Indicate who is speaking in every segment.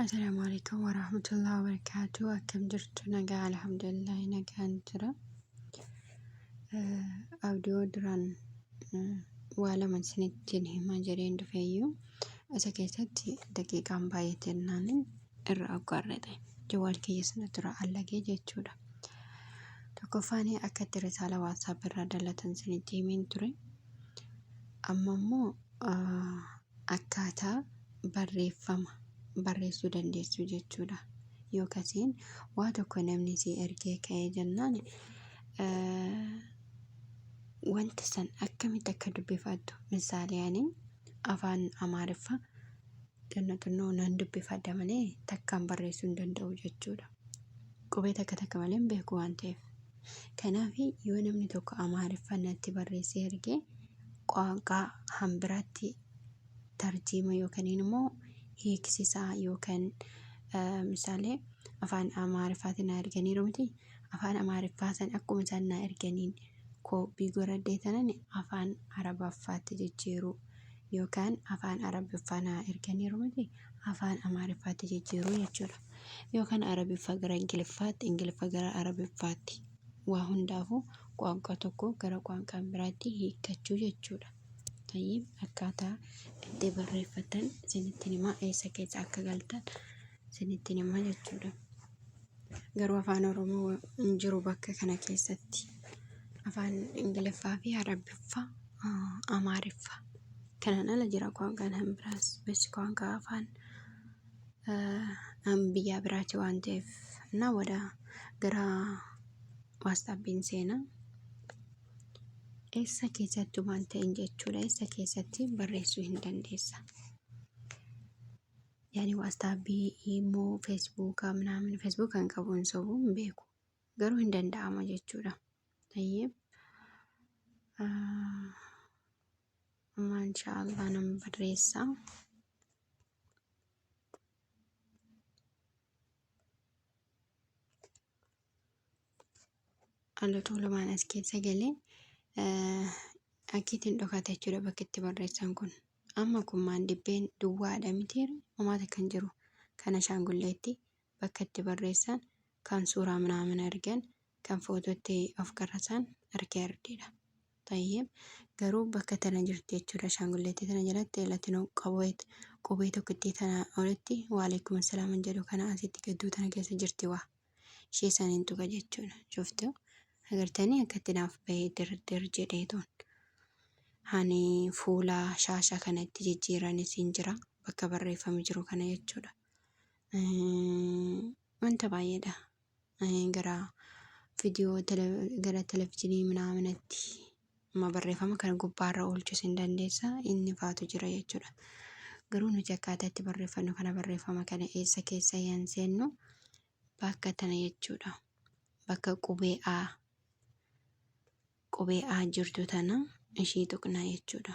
Speaker 1: Assalamu alaikum warahmatullahi wabarakatuh. Akkam jirtu nagaa alhamdulillah nagaan jira. Abdoo duraan waa lama isinittiin himaa jireen dhufeeyyuu isa keessatti daqiiqaan baay'ee jennaan irra aggaarrate jawaal kiyya sana dura allagee jechuudha. Tokkoffaan akka itti risaala waatsaap irraa dalatan isinitti himeen ture. Amma immoo akkaataa barreeffama barreessuu dandeessu jechuudha. Yookasiin waa tokko namni si ergee ka'ee jennaan wanta san akkamitti akka dubbifattu misaalee ani afaan amaariffa xinno xinnoo nan dubbifadha malee takkaan barreessuu hin danda'u jechuudha. Qubee takka takka malee hin beeku waan ta'eef. Kanaaf yoo namni tokko amaariffa natti barreessee ergee qaanqaa hambiraatti tarjiima yookaniin immoo hiiksisaa yookan misaalee afaan amaariffaatiin naa erganiiru miti afaan amaariffaa san akkuma isaan naa erganiin koopii goradhee tanan afaan arabaffaatti jijjiiruu yookaan afaan arabiffaa naa erganiiru miti afaan amaariffaatti jijjiiruu jechuudha yookaan arabiffa gara ingiliffaatti ingiliffa gara arabiffaatti waa hundaafuu qoanqa tokko gara qoanqaan biraatti hiikkachuu jechuudha Tayyib akkaataa itti barreeffatan isinitti himaa eessa keessa akka galtan isinitti himaa jechuudha. Garuu afaan Oromoo hin jiru bakka kana keessatti. Afaan Ingiliffaa fi Arabiffaa, ah, Amaariffaa. Kanaan ala jira qoonqaan kan biraas. Bes qoonqaa afaan ah, an biyyaa biraati waan ta'eef. Innaa wada gara waastaabiin seenaa. Eessa keessatti waan ta'een jechuudha. Eessa keessatti barreessuu hin dandeessa. Yaani waastaapii, imoo, feesbuukaa, minaamin feesbuukaa hin qabu hin sobu hin beeku. Garuu hin danda'ama jechuudha. Tayyib. Amma inshaallah nan barreessa. ala tuulamaan as keessa galee akkiitiin dhokata jechuudha bakki itti barreessan kun. Amma kun maandibbeen duwwaadha miti homaata kan jiru kan ashaangulleetti bakka itti barreessan kan suuraa minaamin argan kan footootti of qarrasan arkee ardiidha. Tayyib garuu bakka tana jirti jechuudha ashaangulleetti tana jalatti latinoo qabee qubee tokkittii tana olitti waaleekum assalaaman jedhu kana asitti gadduu tana keessa jirti waa. ishee saniin tuqa jechuudha shuftu agartanii akkatti naaf bahee dirdir jedhee toon ani fuula shaasha kanatti jijjiiran isiin jira bakka barreeffame jiru kana jechuudha wanta baay'eedha gara viidiyoo gara televizyiinii minaaminatti Amma barreeffama kana gubbaarra oolchuus hin dandeessa inni faatu jira jechuudha. Garuu nuti akkaataa itti barreeffannu kana barreeffama kana eessa keessa hin seennu bakka tana jechuudha. Bakka qubee A qubee A jirtu tana ishii tuqnaa jechuudha.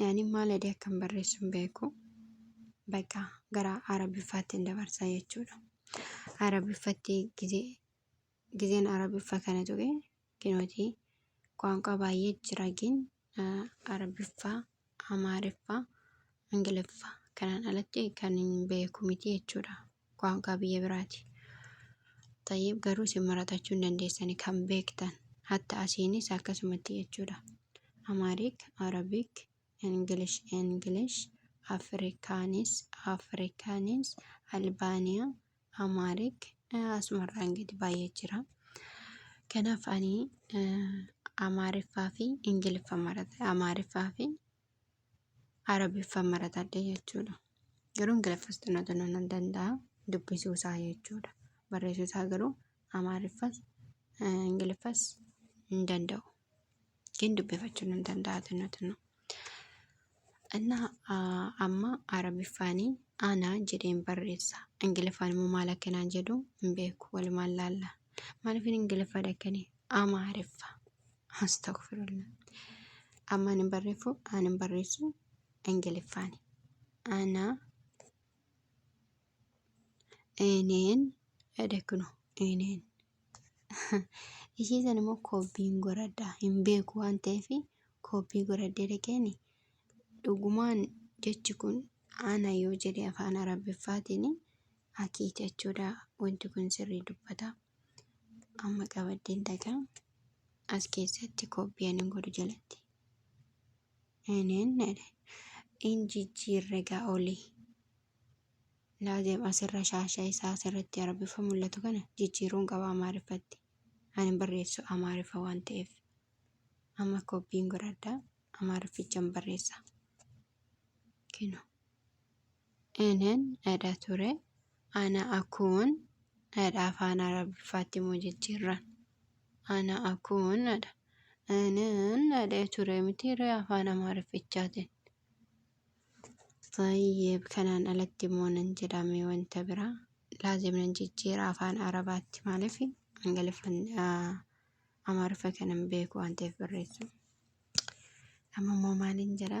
Speaker 1: Yaani maal jedhee akkan barreessu hin beeku. Bakka gara Arabiffaatti hin dabarsa jechuudha. Arabiffatti gizee gizeen Arabiffa kana ture kinooti ቋንቋ baay'ee jira gin Arabiffaa, Amaariffaa, Ingiliffaa kanaan alatti kan hin beeku miti jechuudha. Kwaanqaa biyya biraati. Xayyib garuu isin maratachuu hin dandeessani kan beektan. Hatta asiinis akkasumatti jechuudha. Amaarik, Arabic, English, English, Afrikaanis, Afrikaanis, Albaaniyaa, Amaarik, asumarraan gadi baay'ee jira. Kanaaf ani Amaariffaa fi Ingiliffa marata. Amaariffaa fi arabiffaan maratadhe jechuudha. Garuu ingiliffas xinoo xinoo nan danda'a dubbisuu isaa jechuudha. Barreessuu isaa garuu amaariffas ingiliffas hin danda'u. Gin dubbifachuu nan danda'a xinoo xinoo. እና amma arabiffaanii ana jedheen barreessa. Ingiliffaan immoo maal akka naan jedhu hin beeku walumaan laalla. Maaliif ingiliffaa dhakkanii amaariffa. Astagfirullah. Ammaan hin barreeffu, aan hin barreessu, Ingiliffaani. Ana, eneen, jedhe kuno, eneen. Ishii san immoo koobbiin goradha. Hin beeku waan ta'eef koobbii goradhee dhaqeeni. Dhugumaan jechi kun ana yoo jedhe afaan arabiffaatiin akii jechuudha. Wanti kun sirrii dubbata. amma qabaddeen takaa as keessatti koppii anan godhu jalatti nenedha in jijjiirre gaa olii laazim asirra shaasha isaa asirratti arabiffa mul'atu kana jijjiiruun qaba amaariffatti anin barreessu amaariffa waan ta'eef amma koppiin godhadha amaariffichan barreessa kino Enen dhadha ture ana akun dhadha afaan arabiffaatti moo jijjiirran ana akun dhadha Enen dhadha ture miti ree afaan amaariffichaatiin Tayyib kanaan alatti immoo nan jedhame wanta biraa laazim nan jijjiira afaan arabaatti maaliif ingiliffan amaariffa kanan beeku waan ta'eef barreessu amma immoo maaliin jedha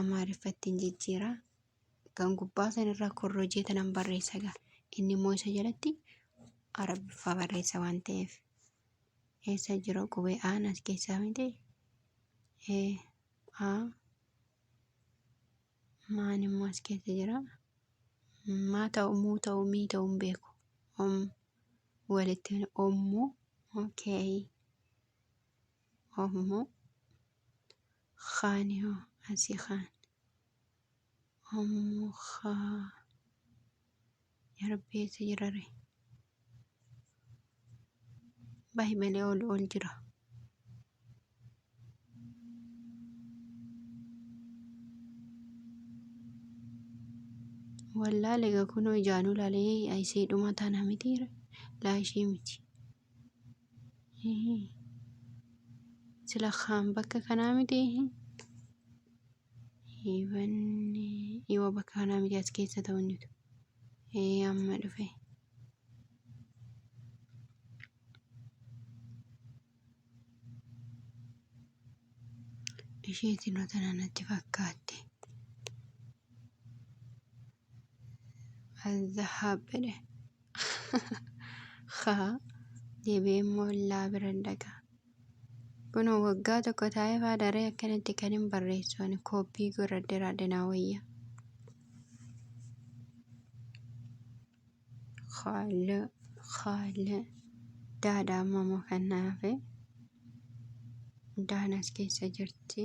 Speaker 1: amaariffatti hin jijjiira kan gubbaa san irra korrojee tanan barreessa gaa inni immoo isa jalatti arabiffaa barreessa waan ta'eef eessa jira qubee aan as keessaa miti ee a maan immoo as keessa jira maa ta'u muu ta'u mii ta'u hin beeku om walitti ommoo okay ommoo Khaani hoo asii khaan. Ommu khaa. Ya rabbi eessa jirare? Bahi malee ol ol jira. Wallaale ga kunoo ijaanuu laalee ayisee dhuma tana mitiire laa ishee miti. Sila kaan bakka kanaa miti. Hiibanni yoo bakka kanaa miti as keessa ta'u hin jiru. Ee amma dhufe. Isheetiin otana natti fakkaatte. Alzahaab jedhe. Haa deebi'ee immoo illaa bira hin dhaqa. Kun waggaa tokko taa'ee faa daree akkanatti kan hin barreessu ani kooppii godhadheeraa dinaa wayya. Haala haala daadha amma immoo kan naafe daanas keessa jirti.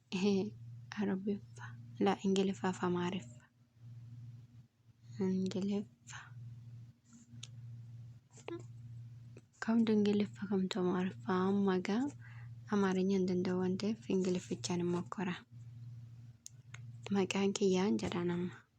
Speaker 1: Ehee arabiffa la ingiliffa fi amaariffa ingiliffa kamtu ingiliffa kamtu amaariffa amma egaa amaarinya hin danda'u waan ta'eef ingiliffichaan hin mokkora maqaan kiyyaan jedhaan amma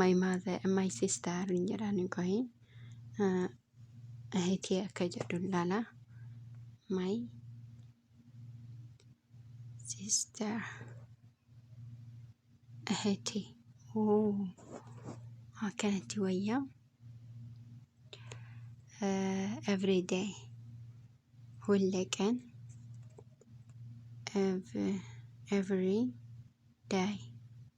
Speaker 1: my mother my sister hin jedhaan qohi ehitii akka jedhu laala my sister ehitii oo akkanatti wayyaa every day hulle qan every day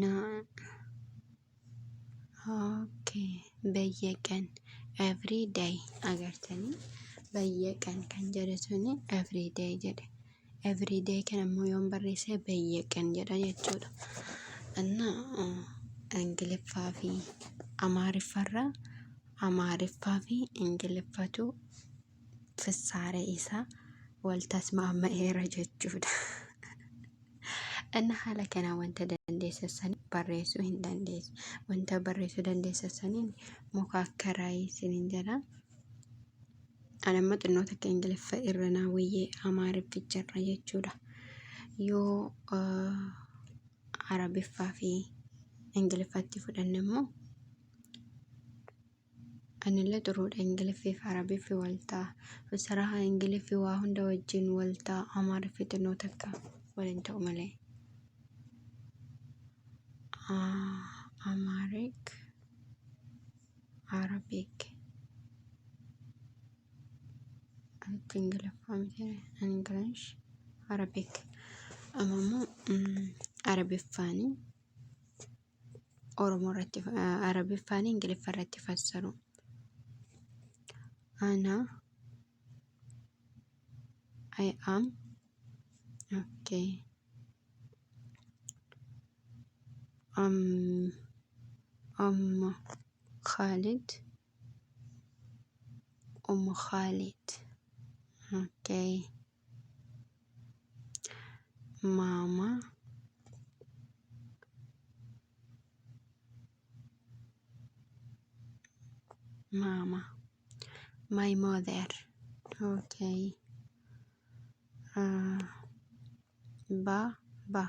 Speaker 1: na okay bayyaqan every day agartanii bayyaqan kan jedhe suni every day jedhe every day kan ammoo yoon barreesse bayyaqan jedha jechuudha anna ingiliffaa fi amaariffarra amaariffaa fi ingiliffatu ፍሳረ isa wal tasmaama'eera jechuudha. Inni haala kanaan wanta dandeessu san barreessuu hin dandeessu. Wanta barreessuu dandeessu saniin muka akka raayii isiniin jedha. Ani amma xinnoo takka Ingiliffa irra naa wayyee Amaarifficha irra jechuudha. Yoo ah, Arabiffaa fi Ingiliffatti fudhanne immoo Anillee xuruudha ingiliffi fi arabiffi waltaa usaraha ingiliffi waa hunda wajjin waltaa amaariffi xinnoo takka waliin ta'u malee amaarik arabik anti ingiliffaa miti ingilish arabik amma immoo arabiffaanii Oromoo irratti Arabiffaan Ingiliffa irratti fassaru. Ana I am okay. Am Amma Khalid Umm Khalid okay. mama mama my mother okay uh, ba ba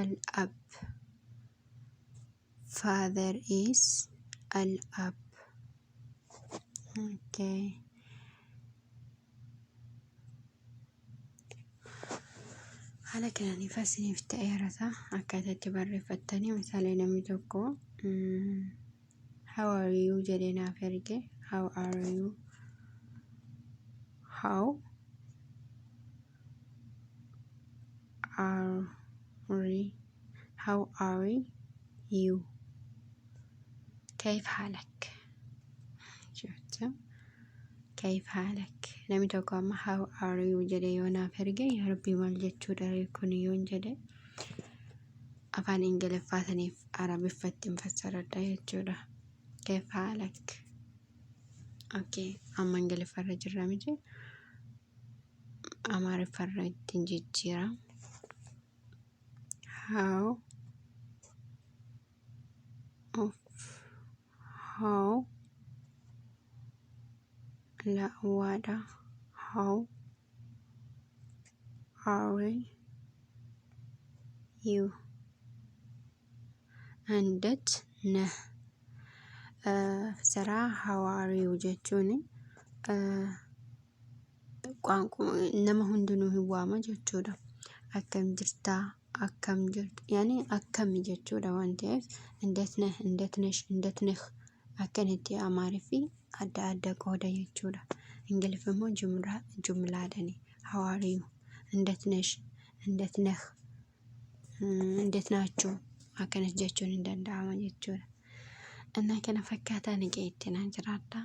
Speaker 1: Al-Ab. Father is Al-Ab. Okay. Haala kanaan ifa isiniif ta'eera ta'a. Akkaataa itti barreeffattanii misaalee namni tokko mm, how are you jedhee naaf erge how are you how are you? How are you? Kayif haalak? Jecha kayif haalak? Namni tokko amma how are you jedhee yoo naaf erge yaa rabbii maal jechuu dharee kun yoon jedhe afaan ingiliffaa saniif arabiffatti hin fassaradha jechuudha. Kayif haalak? Okay, amma ingiliffarra jirra miti. amaariffarra ittiin jijjiira how of how la'waadha how are you and that na uh, saraa how are you jechuun uh, nama hundinuu hin waama jechuudha. Akkam jirtaa? Akkam jirtu? Yaani akkami jechuudha waan ta'eef indet neh, indet nesh, indet neh akkanatti Amaariffi adda adda qooda jechuudha. Ingiliffi immoo jumlaa jumlaadhani. How are you? Indet nesh, indet neh, indet naachuu akkanas jechuun hin danda'ama jechuudha. Innaa kana fakkaataa nagee itti naan jiraadhaa.